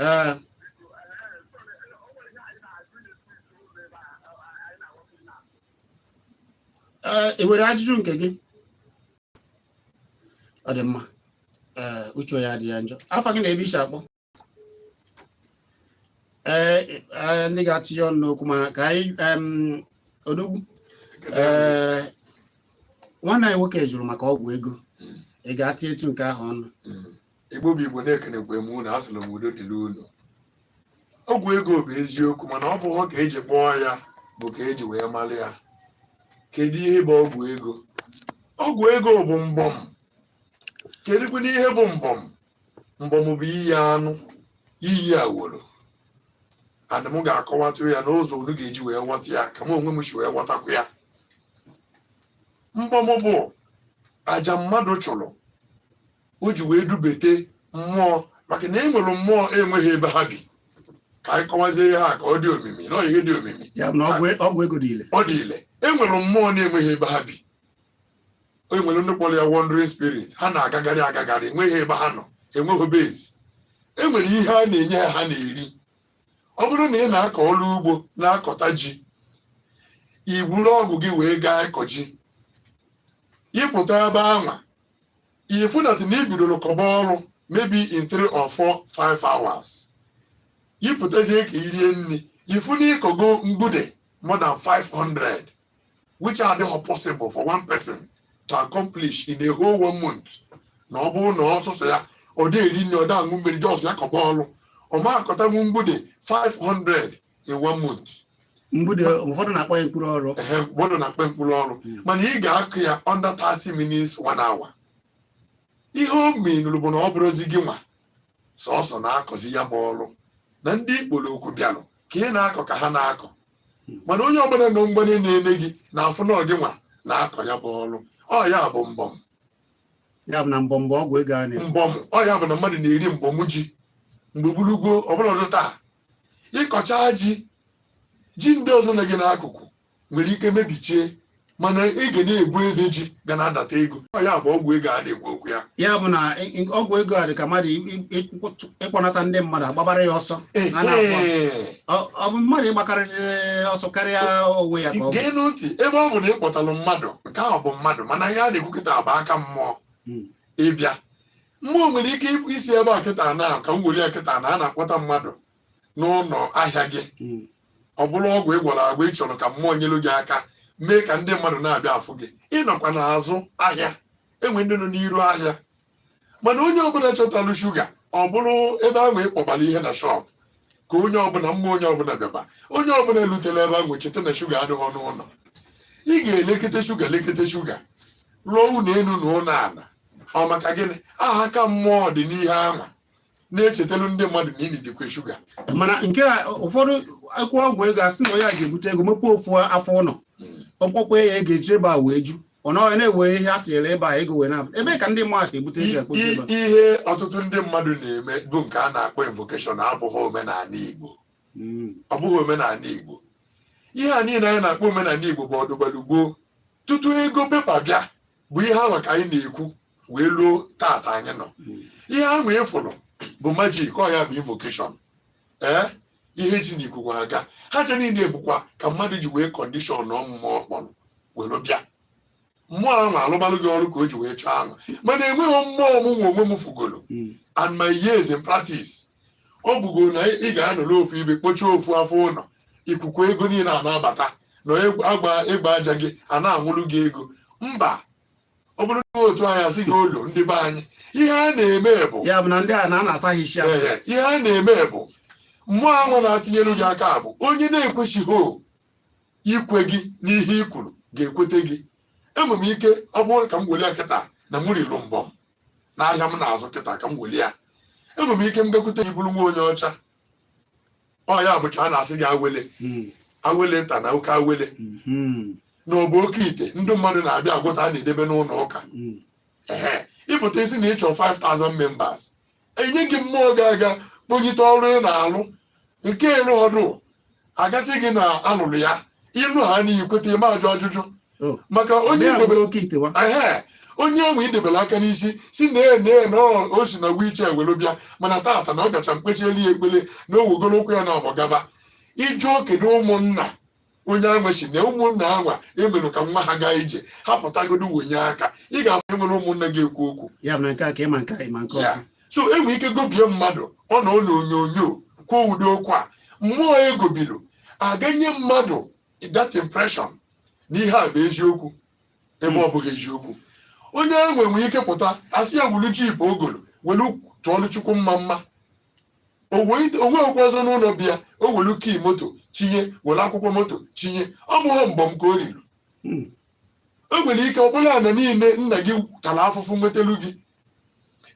ee ee ị nwere ajụjụ nke gị ọ dị mma ee uche ya adị ya njọ afa gị na ebe i shi akpọ ee ee, ndị ga-atụnye ọnụ n'okwu ma ka anyị em, odogwu ee nwanne anyị nwoke jụrụ maka ọgwụ ego ị ga-atị etu nke ahụ ọnụ igbo bụ igbo na-ekenekwa m unu asịla m udo dịrị unu ọgwụ ego bụ eziokwu mana ọ bụghị ka eji kpọọ ya bụ ka eji wee mara ya kedu ihe bụ ọgwụ ego ọgwụ ego bụ mbọm kedụkwanụ ihe bụ mbọm mbọm bụ iyi anụ iyi awọrọ ana m ga-akọwatụ ya n'ụzọ unu ga-eji wee ghọta ya ka m onwe m si wee ghọtakwa ya mbọm bụ aja mmadụ chụrụ o ji wee dubete mmụọ maka na e nwere mmụọ enweghị ebe ha bi ka anyị kọwazie ihe a ka ọ dị omimi na ihe dị omimi ya bụ na ọgwụ e, ọgwụ ego dị ile ọ dị ile e nwere mmụọ na-enweghị ebe ha bi o nwere ndị kpọrọ ya wandering spirit ha na-agagharị agagharị enweghị ebe ha nọ enweghị base e nwere ihe a na-enye ha ha na-eri ọ bụrụ na ị na-akọ ọrụ ugbo na-akọta ji i buru ọgụ gị wee gaa ịkọ ji ịpụta ebe anwa ifu that na ibidoro kọba ọrụ maybe in three or four five hours ịpụtazie ka irie nri ifu na ịkọgo mgbude more than 500 which adịhọ possible for one person to accomplish in a whole one month na ọ bụrụ na ọ sọsọ ya ọ dị eri nri ọ dị aṅụ mmiri just ya kọba ọrụ ọ ma akọtanwu mgbude 500 in one month mgbidi ụfọdụ na-akpọ ya mkpụrụ ọrụ ehe mmadụ na-akpa mkpụrụ ọrụ Mm. mana ị ga-akụ ya under 30 minutes one hour ihe o menụrụ bụ na ọ bụrụzi gị nwa sọsọ na-akọzi ya bụ ọrụ na ndị ị kpọrọ oku bịarụ ka ị na-akọ ka ha na-akọ mana onye ọbụla nọ mgbanye na-ele gị na-afụ na ọ gị nwa na-akọ ya bụ ọrụ ọ ya bụ mbọm ya bụ na mbọm bụ ọgwụ ego a na-ekwu mbọm ọ ya bụ na mmadụ na-eri mbọm ji mgbe gburugburu ọbụla ọdụ taa ịkọcha ji ji ndị ọzọ nọ gị n'akụkụ nwere ike mebichie mana ị ga na-ebu eze ji ga na-adata ego ya bụ ọgwụ ego a na-ekwu okwu ya ya bụ na ọgwụ ego a dị ka mmadụ ịkpọnata ndị mmadụ agbabara ya ọsọ ọ bụ mmadụ ịgbakarịrị ọsọ karịa onwe ya ka ọ gee ntị ebe ọ bụ na ị kpọtalụ mmadụ nke ahụ bụ mmadụ mana ihe a na-ekwu kịta bụ aka mmụọ hmm. ịbịa mmụọ nwere ike ịpụ isi ebe a kịta na ka m were ya kịta na a na-akpọta mmadụ n'ụlọ ahịa gị hmm. ọ bụrụ ọgwụ ị gwọrọ agwọ ị chọrọ ka mmụọ nyelu gị aka mee ka ndị mmadụ na-abịa afụ gị ị nọkwa n'azụ ahịa e nwee ndị nọ n'iru ahịa mana onye ọbụla chọtalụ shuga ọ bụrụ ebe ahụ ị kpọbara ihe na shọpụ ka onye ọbụla mma onye ọbụla bịaba onye ọbụla elutela ebe ahụ cheta na shuga adịghị n'ụlọ ị ga-elekata shuga lekata shuga lụọ ụlọ elu na ụlọ ala ọ maka gịnị aka mmụọ dị n'ihe anwa na-echetelu ndị mmadụ na ini dịkwa shuga mana nke a ụfọdụ e kwukwa ọgwụ ego a sị na onye a ga-ebute ego mepee ofu afọ ụlọ o kpokwa ya ego eji ebe a wee ju ọ nọghị na-ewe ihe a tinyere ebe a ego wee na ebe ka ndị mmadụ si ebute ego ekpote ebe a ihe ọtụtụ ndị mmadụ na-eme bụ nke a na-akpọ invocation abụghị omenala Igbo Mm. ọ bụghị omenala Igbo ihe a niile anyị na-akpọ omenala Igbo bụ ọdụgbalugbo tutu ego pepa bịa bụ ihe ahụ ka anyị na-ekwu wee luo tata anyị nọ ihe ahụ ị fụrụ bụ magic ọ ya bụ invocation ee ihe si n'ikuku aga ha ncha niile bụkwa ka mmadụ ji wee condition ụmụ mmụọ ọ kpọrọ were bịa mmụọ ahụ alụbalụ gị ọrụ ka o ji wee chọọ ahụ mana enweghị mmụọ mụ nwa onwe m fụgoro in my years in practice ọ bụgo na ị ga-anọrọ ofu ebe kpochie ofu afọ ụlọ ikuku ego niile a na-abata na ịgba aja gị a na-anwụrụ gị ego mba ọ bụrọ otu anyị si agwọlụ ndị be anyị ihe a na-eme bụ ya bụ na ndị a na-asa ha isi ahụ Ee, ihe a na-eme bụ mmụọ ahụ na-atinyere gị aka bụ onye na-ekwesịghị ikwe gị n'ihe i kwuru ga-ekwete gị enwere m ike ọ bụrụ ka m were kịta na m riri mbọm n'ahịa m na-azụ kịta ka m weli ya enwere m ike m gakwute gị bụrụ nwa onye ọcha ọ ya bụcha a na-asị gị awele hmm. awele nta na oke awele hmm. na ọ bụ oke ite ndị mmadụ na-abịa agwụta a na-edebe n'ụlọ ụka hmm. ee ị pụta ị sị na ị chọ 5000 members e nye gị mmụọ ga-aga kponyite ọrụ ị na-alụ nke ịrụ ọrụ a ga-asị gị na a lụrụ ya ịlụ ha n'ihi kweta ị ma ajụ ajụjụ Oh, maka onye bịa idebere bụrụ oke ite wa ehe onye ahụ i debere aka n'isi si na ee na ee na ọ- o si na wiche were bịa mana tata na ọ gacha m kpechielu ya ekpele na o wegoro ụkwụ ya na ọgbọ gaba ị jụọ kedu ụmụnna onye anwa chee na ụmụnna anwa emerọ ka nwa ha gaa ije ha pụtagodo wenye aka ị ga-afụ enwere ụmụnna ga-ekwu okwu ya mere nke a ka ịma nke a ịma nke ọzọ so e nwee ike gobie mmadụ ọ nọọ n'onyonyo kwuo ụdị okwu a mmụọ e gobilu a ga-enye mmadụ that impression na ihe a bụ eziokwu ebe ọ bụghị eziokwu onye ahụ nwere ike pụta a sị ya wuru jeep o golo welu tụọlụ Chukwu mma mma o nweghịkwa ọzọ n'ụlọ bịa o welu key moto chinye were akwụkwọ moto chinye ọ bụghị mbọm ka o riri hmm. o nwere ike ọ bụlụ ana niile nna gị tara afụfụ nwetelu gị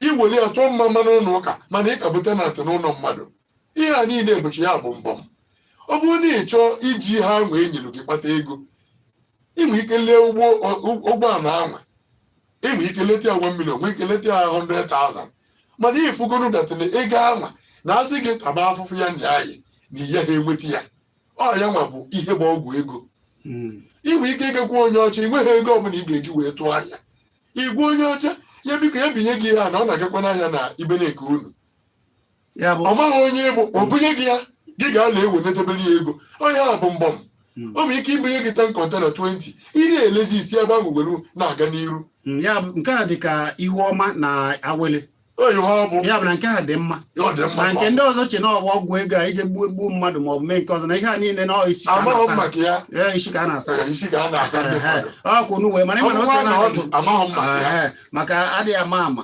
i were ya tụọ mma mma n'ụlọ ụka mana ị ka bụ tenant n'ụlọ mmadụ ihe a niile ebuchi ya bụ mbọm ọ bụrụ na ị chọọ iji ihe anwa e nyere gị kpata ego i nwee ike lee ụgbọala anwa e nwee ike leta ya 1 million nwee ike leta ya 100,000 mana i fugonu that tiny ego anwa na-asị gị taba afụfụ ya nya anyị na ihe ha enweta ya ọ ya nwa bụ ihe bụ ọgwụ ego Mm. i nwee ike ịgakwu onye ọcha ị nweghị ego ọbụla ị ga-eji wee tụọ ahịa ị gwa onye ọcha ya biko ya binye gị ihe a na ọ na-agakwa n'ahịa na ibe nke unu ọ maghị onye ị bụ o bunye gị ya gị ga-ana ewenetebere ya ego ọ ya bụ mbọm hmm. o nwere ike ibunye gị 10 container 20 ị na-elezi i si ebe ahụ were na-aga n'iru hmm, ya nke a dị ka ihu ọma na awele ya bụ na nke a dị mma na nke ndị ọzọ che na ọ bụ ọgwụ ego a ije gbuo gbuo mmadụ ma ọ bụ mee nke ọzọ na ihe a niile na isi ka a na-asa ọkwụ n'uwe mana ị ma na otu na maka adịghị ama ama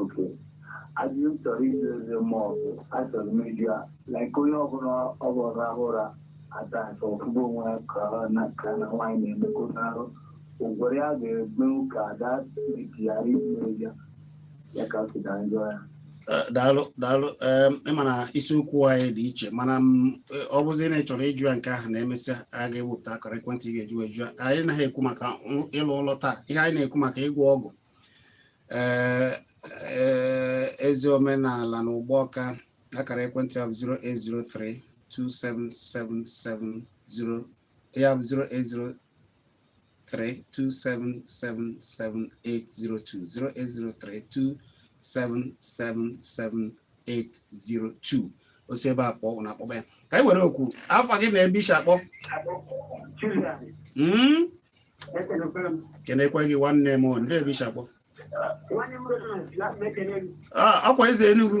okay ajụjụ m chọrọ ịjụ eze mmụọ bụ achọrọ m ịjụ ya like onye ọbụla ọ bụrụ ọ rahụ ụra adasị ọ fụgo onwe ya ka ọ na ka na nwaanyị na-emekọta arụ ụgwọrọ ya ga-egbenwu ka ada mejigharị imere ya ya ka ọ si na njọ ya Eh, daalụ daalụ em, ị ma na isiokwu anyị dị iche mana m, eh, ọ bụzi na ị chọrọ ịjụ ya nke ahụ na e mesịa a ga-ewepụta akara ekwentị ị ga-eji wee jụọ ya. anyị naghị ekwu maka ụ- ịlụ ụlọ taa ihe anyị na-ekwu maka ịgwọ ọgwụ Eh, eh, ezi omenala na Ụgbọ Ọka akara ekwentị ahụ 0803 27770 ya bụ 0803 08032777802 08032777802 o si ebe a kpọọ na-akpọba ya ka anyị were okwu afa gị na ebe i shi akpọ hmm? kenekwe gị nwanne m ndee ebe i shi akpọ ọ kwa ah, eze Enugu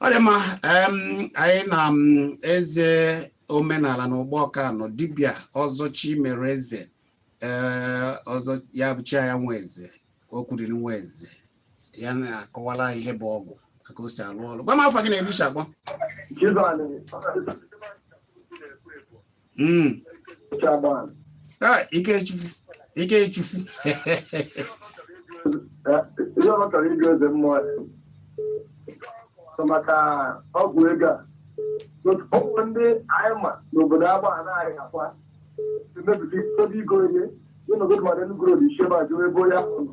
ọ dị mma anyị na eze omenala na Ugbọọka nọ dibịa ọzọ Chimereze eh, ọzọ ya bụ chi ya Nweze Okwudiri Nweze ya na-akọwara anyị ihe bụ ọgwụ aka o si alụ ọrụ gwa m afa gị na ebe i shi akpọ hmm. ah, Ikechukwu Ikechukwu ihe ọ chọrọ ịjụ eze mmụọ maka ọgwụ ego a ụmụ ndị anyị ma n'obodo agba a na-arị akwa emebisi ebe igo ihe ị nọgodu mara enugoro na isheba jụrụ ebe onye ahụ nọ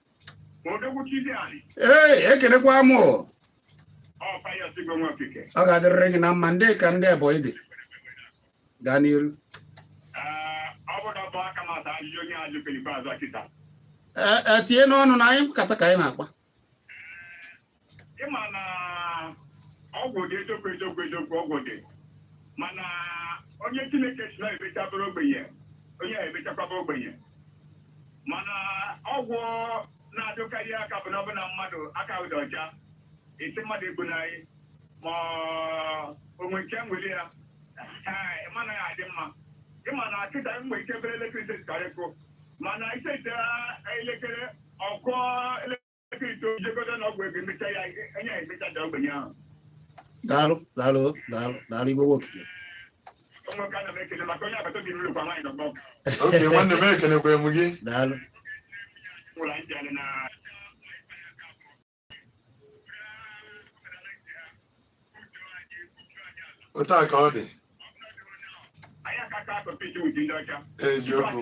ee ekelekwa m ọ ga-adịrịrị gị na mma dịka ndị Ebonyi dị gaa n'iru ee tinye n'ọnụ na anyị nkata ka anyị na-akpa ị ma na ọgwụ dị eziokwu eziokwu eziokwu ọgwụ dị mana onye chineke sị na emecha bụrụ ogbenye onye a emechakwa abụ ogbenye mana ọgwụ na-adịkarị aka bụ na ọbụla mmadụ aka ụdị ọcha esi mmadụ egbu na anyị ma onwe nke nwere ya ee mana ya adị mma ị ma na kịta mgbe ike bere elekere ise karịkụ mana ise elekere ọkụ elekere daalụ daalụ daalụ daalụ igwe okike oke nwanne m ekelekwa m gị daalụ otu a ka ọ dị eziokwu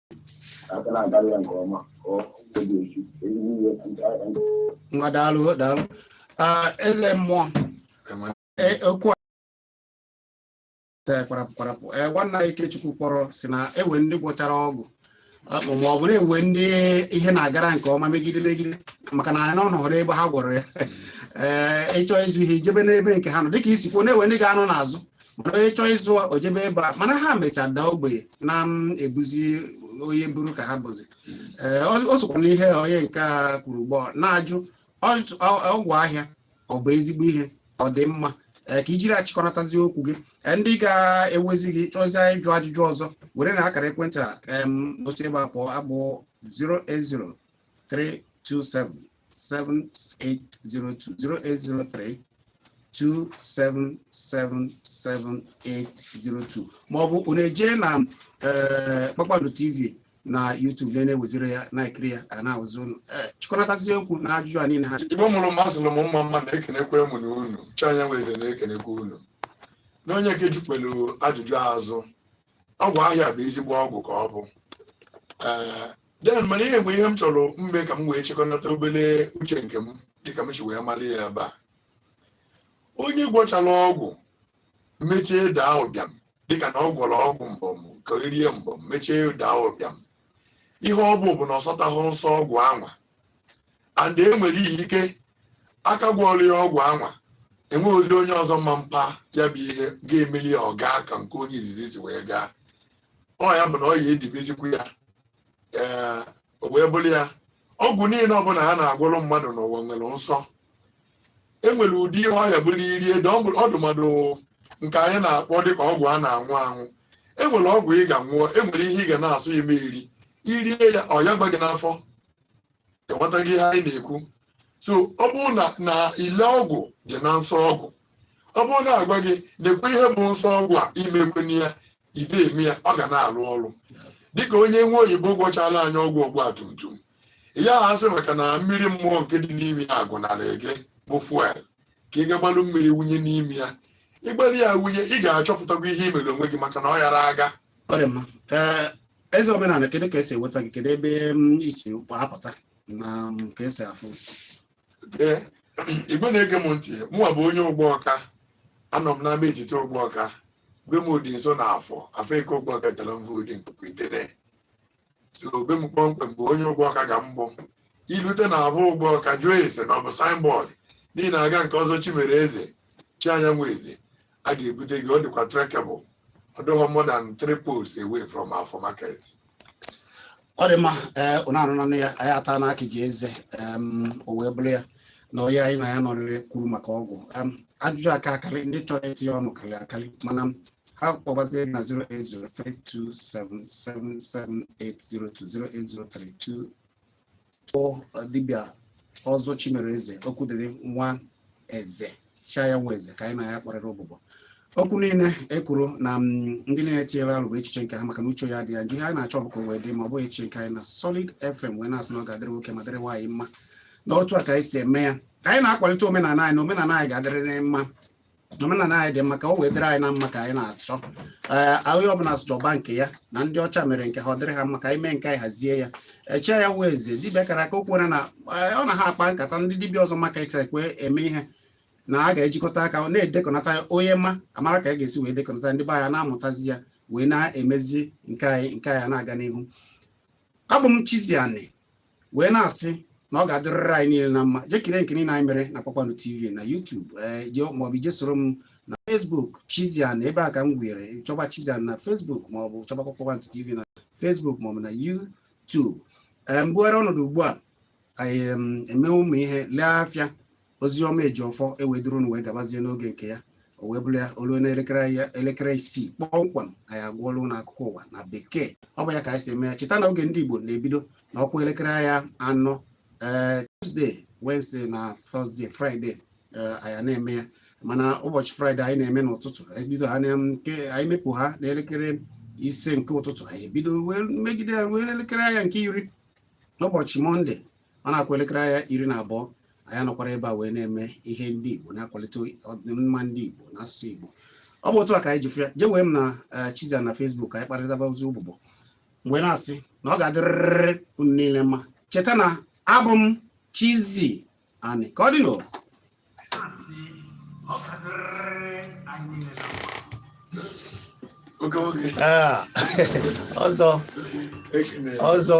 aka na-agarị ya nke ọma ka ọ dị echi eji niile ndị agha ndị ngwa daalụ daalụ Ah, eze mmụọ eh, okwu a Eh, kwarapụ kwarapụ Eh, nwanna anyị Ikechukwu kpọrọ sị na e nwe ndị gwọchara ọgwụ Ah, ma ọ bụ na e nwe ndị ihe na-agara nke ọma megide megide maka na anyị anọrọ ebe ha gwọrọ ya ee ị chọọ ịzụ ihe i jebe n'ebe nke ha nọ dịka i si kwuo na e nwe ndị ga-anọ n'azụ mana onye chọọ ịzụ o jebe ebe a mana ha mecha daa ogbenye na-ebuzi onye buru ka ha buzi ee ọ- o sokwa n'ihe onye nke a kwuru gboo na-ajụ ọ- ọ- ọgwụ ahịa ọ bụ ezigbo ihe ọ dị mma ee ka i jiri achịkọnatazi okwu gị Ee, ndị ga-ewezi gị chọzie ịjụ ajụjụ ọzọ were na akara ekwentị a em, o si ebe a pụọ abụ 080 327 08032777802 maọbụ unu ejee na eh, kpakpando tv na YouTube na na-eweziri ya na-ekiri ya a na-awụzi unu eh, chịkọnatazi okwu na ajụjụ a niile ha igbo mụrụ m ma zụrụ m mma mma na-ekenekwa mụ unu chi anyanwụ eze na-ekenekwa unu na onye nke jụkwalụ ajụjụ azụ ọgwụ ahịa bụ ezigbo ọgwụ ka ọ bụ ee then mana ihe mgbe ihe m chọrọ mme ka m wee chịkọnata obere uche nke m dịka m si wee mara ya ebe a onye gwọchara ọgwụ mechie daa ụbịam dịka na ọ gwọrọ ọgwụ mbọm ka e rie mbọm mechie daa ụbịam ihe ọ bụ bụ na ọ sọtahụ nsọ ọgwụ anwa and e nwere ike a ka gwọrọ ya ọgwụ anwa enweghị ozi onye ọzọ ma mpa ya bụ ihe ga-emeli ya ọ gaa ka nke onye izizi si wee gaa ọ ya bụ na ọ ya edibezikwu ya ee o wee bụrụ ya ọgwụ niile ọbụla a na-agwọrọ mmadụ n'ụwa nwere nsọ e nwere ụdị ihe ọ ya abụrụ i rie ede ọ bụ- ọdụ mmadụ nke anyị na-akpọ dịka ọgwụ a na-anwụ anwụ e nwere ọgwụ ị ga-anwụ e nwere ihe ị ga na-asọ ime iri i rie ya ọ ya gba gị n'afọ enwetaghị ihe anyị na-ekwu so ọ bụrụ na na ile ọgwụ dị na nsọ ọgwụ ọ bụrụ na a gwa gị nekwa ihe bụ nsọ ọgwụ a emekwene ya i de eme ya ọ ga na-arụ ọrụ dịka onye nwa oyibo gwọchala anyị ọgwụ ọgba tum tum ya ha sị maka na mmiri mmụọ nke dị n'ime ya agwụnarị gị bụ fuel ka ị ga gbalụ mmiri wunye n'ime ya ị gbara ya wunye ị ga-achọpụtakwa ihe i mere onwe gị maka na ọ yara aga ọ dị mma ee eze omenala kedu ka e si enweta gị kedu ebe i si apụta na ka e si afụ Ee, Igbo na-ege m ntị mụnwa bụ onye ụgbọka anọ m n'ama etiti ụgbọka be m dị nso na afọ afọ eke ụgbọka tara m voodu nkuku itere so be m kpọmkwem bụ onye ụgbọka ga mbụ m i lute na afọ ụgbọka jụọ ese na ọ bụ signboard n'ihi na aga nke ọzọ chimere eze chi anyanwụ eze a ga-ebute gị ọ dịkwa trekkable ọ dịghọ more than three poles away from afọ market ọ dị mma ee unu anụnanụ ya anyị ata n'aka ji eze em, o wee bụrụ ya na onye anyị na ya nọrịrị kwuru maka ọgwụ Em, ajụjụ aka akarị ndị chọrọ itinye ọnụ karịrị akarị mana ha kpọbazie na 08032777802 kpọ dibịa ọzọ Chimereze Okwudịrị Nwaeze cha ya nwa eze ka anyị na ya kparịrị ụbụbọ okwu niile e kwuru na ndị niile tinyere ọnụ bụ echiche nke ha maka na uche onye adị ya njọ ihe anyị na-achọ bụ ka o wee dị mma ọ bụghị echiche nke anyị na Solid FM wee na-asị na ọ ga-adịrị nwoke ma dịrị nwaanyị mma na otu a ka anyị si eme ya ka anyị na-akwalite omenala anyị na omenala anyị ga-adịrịrị mma omenala anyị dị mma ka o wee dịrị anyị na mma ka anyị na-achọ ee onye ọbụla chọba nke ya na ndị ọcha mere nke ha ọ dịrị ha mma ka anyị mee nke anyị hazie ya eche ya wee eze dibịa kara aka okwu na ọ na ha akpa nkata ndị dibịa ọzọ maka ekwe eme ihe na a ga-ejikọta aka na-edekọnata onye ma a mara ka a ga-esi wee dekọnata ndị be anyị na-amụtazi ya wee na-emezi nke anyị nke anyị na-aga n'ihu abụ m Chizzy Ani wee na-asị na ọ ga-adịrịrị anyị niile na mma jee kirie nke niile anyị mere na Kpakpando TV na YouTube eh, maọbụ i jee soro m na Facebook Chizzy Ani ebe a ka m gwere chọba Chizzy Ani na Facebook maọbụ chọba Kpakpando TV na Facebook maọbụ na YouTube eh, m bugharịa ọnọdụ ugbu a anyị eme ụmụ ihe lee afịa oziọma ejiọfọ ewee duru unu wee gabazie n'oge nke ya o wee bụrụ ya o lue n'elekere ya elekere isii kpọmkwem anyị agụọlụ unu akụkọ ụwa na bekee ọ bụ ya ka anyị si eme ya cheta na oge ndị igbo na-ebido na ọ kụọ elekere ya anọ ee eh, Tuesday Wednesday na Thursday Friday eh, anyị na-eme ya mana ụbọchị Friday anyị na-eme n'ụtụtụ ebido ha nke anyị mepụ ha n'elekere ise nke ụtụtụ anyị ebido wee megide ya wee elekere anya nke iri n'ụbọchị Monday ọ na-akụ elekere anya iri na abụọ anyị anọkwara ebe a wee na-eme ihe ndị Igbo na-akwalite ọdịmma ndị Igbo na asụsụ Igbo ọ bụ otu a ka anyị ji fụ ya jee wee m na eh, Chizzy Ani na Facebook anyị kparịtabazie ụbụbọ m wee na-asị na ọ ga-adịrịrị unu niile mma cheta na abụ m Chizzy Ani ka ọ dịnụ oge ọzọ